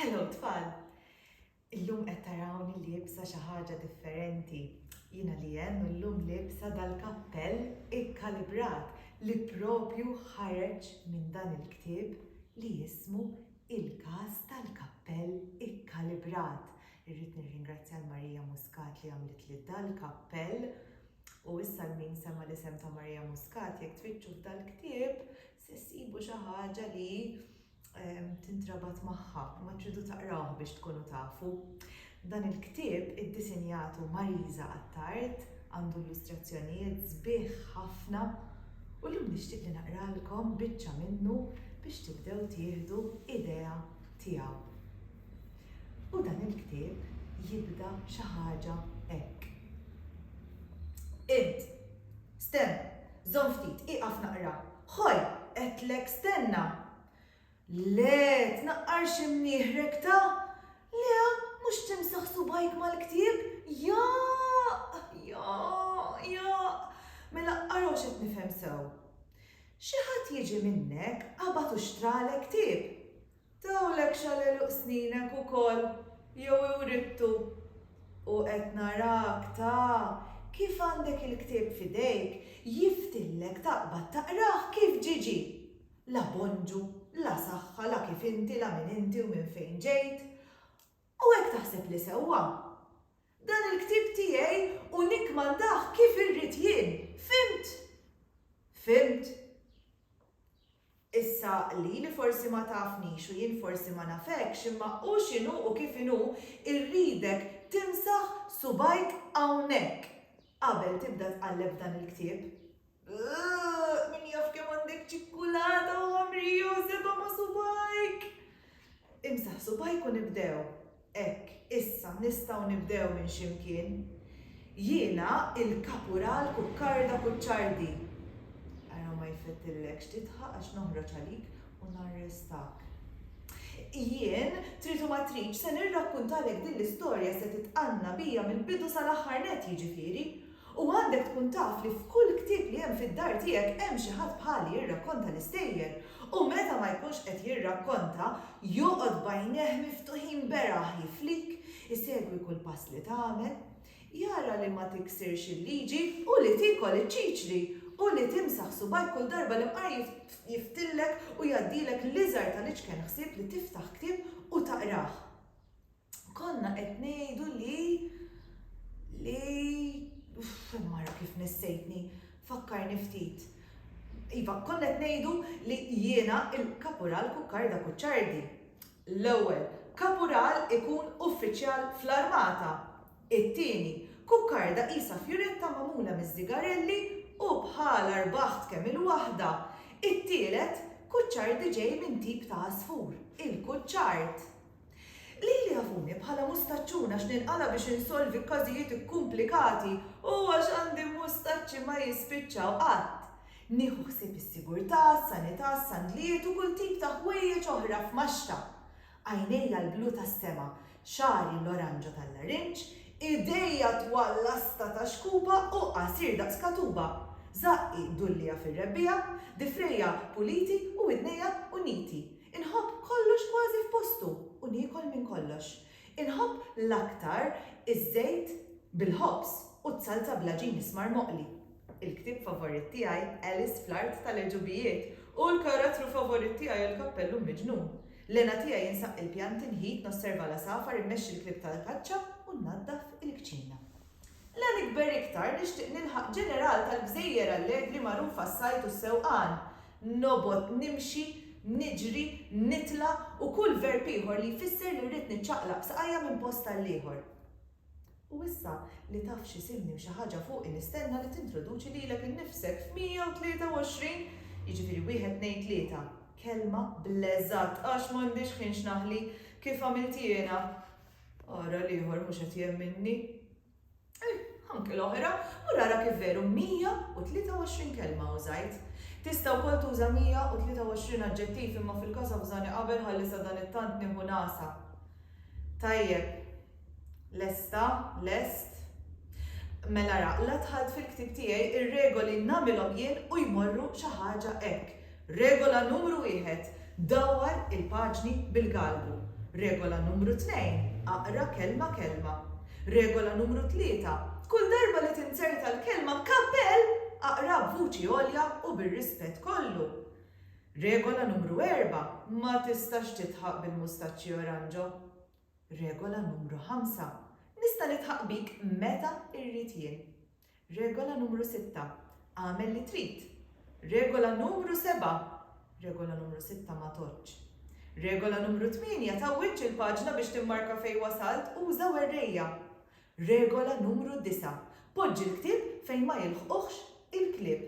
Hello tfal! Illum qed tarawni liebsa xi ħaġa differenti. Jiena li hemm illum liebsa dal-kappell ikkalibrat li propju ħareġ minn dan il-ktieb li jismu Il-Każ tal-Kappell Ikkalibrat. Irrid nirringrazzja l-Marija Muscat li għamlet li dal-kappell u issa l-min sema li sem ta' Marija Muscat jekk tfittxu f'dal-ktieb Se ssibu xi ħaġa li tintrabat magħha, imma tridu taqrawh biex tkunu tafu. Dan il-ktieb iddisinjatu Marisa Attard għandu illustrazzjonijiet sbieħ ħafna u llum nixtieq li naqralkom biċċa minnu biex tibdew tieħdu idea tiegħu. U dan il-ktieb jibda xi ħaġa hekk. Int Stenna, żomm ftit, ieqaf naqra. Ħoj! Għedtlek stenna! Le, tnaqqar xi mnieħrek ta'! Le, mhux timsaħ subgħajk mal-ktieb? Jaaaq! Jaaaq! Jaaaq! Mela ara u x'qed nifhem sew. Xi ħadd jiġi minnek, qabad u xtralek ktieb. Tawlek x'għal għeluq sninek ukoll jew iwrittu? U qed narak ta kif għandek il-ktieb f'idejk, jiftillek taqbad taqrah kif ġiġi! La bonġu, la saħħa, la kif inti, la min inti u minn fejn ġejt. U hekk taħseb li sewwa? Dan il-ktieb tiegħi u nikkmandah kif irrid jien, fhimt? Fhimt? Issa, lili forsi ma tafnix u jien forsi ma nafekx, imma hu x'inhu u kif inhu, irridek timsaħ subgħajk hawnhekk qabel tibda tqalleb f'dan il-ktieb. Uuhh! Min jaf kemm għandek ċikkulata u ħamrija u seba' ma' subgħajk! Imsaħ subgħajk u nibdew. Hekk, issa nistgħu nibdew minn x'imkien. Jiena il-Kapural Kukkarda Kuċċardi. Ara ma jfettillekx tidħaq għax noħroġ għalik u narrestak. Jien, trid u ma tridx, se nirrakkuntalek din l-istorja se titqanna bija mill-bidu sal-aħħar nett, jiġifieri, U għandek tkun taf li f'kull ktieb li hemm fid-dar tiegħek hemm xi ħadd bħali jirrakkonta l-istejjer, u meta ma jkunx qed jirrakkonta, joqgħod b'għajnejh miftuħin beraħ jiflik, isegwi kull pass li tagħmel, jara li ma tiksirx il-liġi, u li tiekol iċ-ċiċri, u li timsaħ subgħajk kull darba li mqar jiftillek u jgħaddilek l-iżgħar tal-iċken ħsieb li tiftaħ ktieb u taqrah. Konna qed ngħidu li li mara kif nessejtni, fakkarni ftit. Iva, konna qed ngħidu li jiena il-Kapural Kukkarda Kuċċardi. L-ewwel, Kapural ikun uffiċjal fl-armata. It-tieni, Kukkarda qisha fjuretta magħmula miż-żigarelli u bħalha rbaħt kemm il-waħda. It-tielet, Kuċċardi ġej minn tip ta' għasfur, il-kuċċard. Lili jafuni bħala mustaċċun għax ninqala' biex insolvi każijiet ikkumplikati u għax għandi mustaċċi ma jispiċċaw qatt. Nieħu ħsieb is-sigurtà, s-sanità, s-sandlijiet u kull tip ta' ħwejjeġ oħra f'maxxa. Għajnejja l-blu tas-sema, xagħri l-oranġo tal-larinġ, idejja twal lasta ta' xkupa u qasir daqs katuba, żaqqi dulliegħa fir-rebbiegħa, difrejja puliti u widnejja uniti. Inħobb kollox kważi f'postu u niekol minn kollox. Inħobb l-aktar iż-żejt bil-ħobż u z-zalza bl-għaġin ismar moqli. Il-ktieb favorit tiegħi Alice fl-Art tal-Għeġubijiet u l-karatru favorit tiegħi hu l-Kappellu Miġnun. L-hena tiegħi insaqq il-pjanti, nħit, nosserva l-għasafar, immexxi l-klieb tal-kaċċa u nnaddaf il-kċina. La nikber iktar nixtieq nilħaq ġeneral tal-gżejjer allegri magħrufa s-sajd u s-sewqan. Nobgħod nimxi, niġri, nitla' u kull verb ieħor li jfisser li rrid niċċaqlaq b'saqajja minn post għall-ieħor. U issa li taf x'isimni u xi ħaġa fuqi nistenna li tintroduċi lilek innifsek f'123, jiġifieri wieħed tnejn tlieta, kelma bl-eżatt għax m'għandix ħin x'naħli, kif għamilt jiena. Ara l-ieħor mhux qed jemminni. Eh, anke l-oħra, u rara kif veru 123 kelma użajt. Tista' wkoll tuża 123 aġġettiv imma fil-każ abżani qabel ħalli sa dan it-tant nieħu nasa. Tajjeb, lesta, lest, Mela ra, la tħalt fil-ktib tiegħi ir-regoli nagħmilhom jien u jmorru xi ħaġa hekk. Regola numru wieħed, Dawwar il-paġni bil-galbu. Regola numru tnejn, Aqra kelma kelma. Regola numru tlieta, Kull darba li tinzerta l-kelma kappell, aqraha b'vuċi għolja u bir-rispett kollu. Regola numru erba', Ma tistax tidħaq bil-mustaċċi oranġo. Regola numru ħamsa, Nista' nidħaq bik meta rrid jien. Regola numru sitta, Agħmel li trid! Regola numru seba', Regola numru sitta ma tgħoddx! Regola numru tmienja, Tgħawwidx il-paġna biex timmarka fejn wasalt, uża werrejja! Regola numru disa', Poġġi l-ktieb fejn ma jilħquhx il-klieb!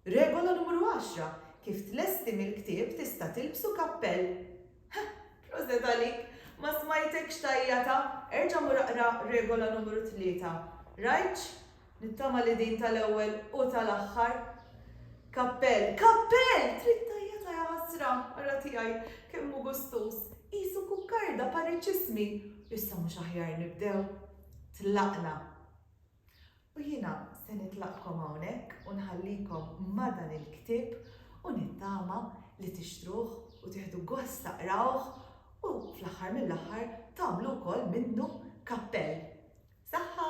Regola numru għaxra, Kif tlesti mill-ktieb tista' tilbsu kappell. Ħa! Proset għalik! Ma smajtekx tgħajjata? Erġa' mur aqra regola numru tlieta. Rajtx? Nittama li din tal-ewwel u tal-aħħar. Kappell! Kappell! Trid tgħajjata ja ħasra! Ara tiegħi kemm hu gustuż! Qisu kukkarda pariċismi! Issa mhux aħjar nibdew? Tlaqna. U jiena se nitlaqkom hawnhekk u nħallikom ma' dan il-ktieb u nittama li tixtruh u tieħdu gost taqrawh u fl-aħħar mill-aħħar tagħmlu wkoll minnu kappell. Saħħa!